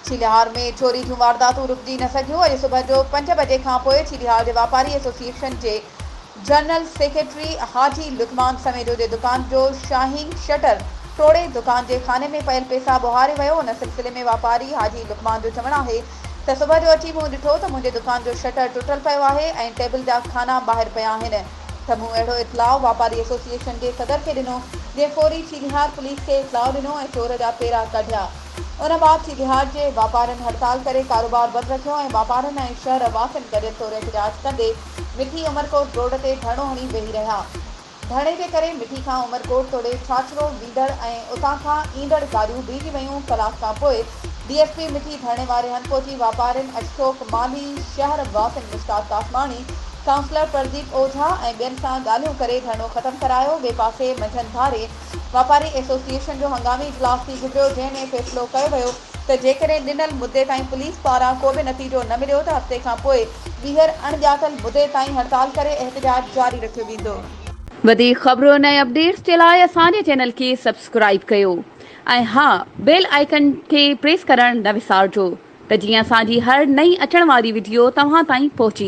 ڇيلهار ۾ چوري جون وارداتون رڪجي نه سگهيون، اڄ صبح جو پنج بجي کانپوء ڇيلهار جي واپاري ايسوسيئيشن جي جنرل سيڪريٽري حاجي لقمان سميجو جي دڪان جو شاهين شٽر ٽوڙي دڪان جي خاني ۾ پيل پيسا ٻوهاري ويو، ان سلسلي ۾ واپاري حاجي لقمان جو چوڻ آهي ته صبح جو اچي مون ڏٺو ته منهنجي دڪان جو شٽر ٽٽل پيو آهي ۽ ٽيبل جا خانا ٻاهر پيا آهن ته مون اهڙو اطلاع واپاري ايسوسيئيشن جي صدر کي ڏنو جنهن فوري چيلهيار پوليس کي اطلاع ڏنو ۽ چور جا پيرا ڪاڍيا ان بعد چيلهيار جي واپارين هڙتال ڪري ڪاروبار بند رکيو ۽ واپارين ۽ شهر واسين گڏيل طور احتجاج ڪندي مٺي عمرڪوٽ روڊ تي ڌرڻو هڻي ويهي رهيا. ڌرڻي جي ڪري مٺي کان عمرڪوٽ توڙي ڇاڇرو ويندڙ ۽ اتان کان ايندڙ گاڏيون بيهجي ويون، ڪلاڪ کان پوء ڊي ايس پي مٺي ڌرڻي واري هنڌ پهچي واپارين، اشفوق مالهي، شهر واسين مشتاق ڪاسماڻي، ڪائونسلر پرديپ اوجها ۽ ٻين سان ڳالهيون ڪري ڌرڻو ختم ڪرايو، ٻئي پاسي منجهند ڌاري واپاري ايسوسيئيشن جو هنگامي اجلاس ٿي گذريو جنهن ۾ فيصلو ڪيو ويو ته جيڪڏهن ڏنل مدي تائين پوليس پاران ڪو به نتيجو نه مليو ته هفتي کان پوء ٻيهر اڻ ڄاتل مدي تائين هڙتال ڪري احتجاج جاري رکيو ويندو. وڌيڪ خبرن ۽ اپڊيٽس جي لاء اسان جي چينل کي سبسڪرائيب ڪيو ۽ ها بيل آئيڪن کي پريس ڪرڻ نه وسارجو ته جيئن اسان جي هر نئين اچڻ واري وڊيو توهان تائين پهچي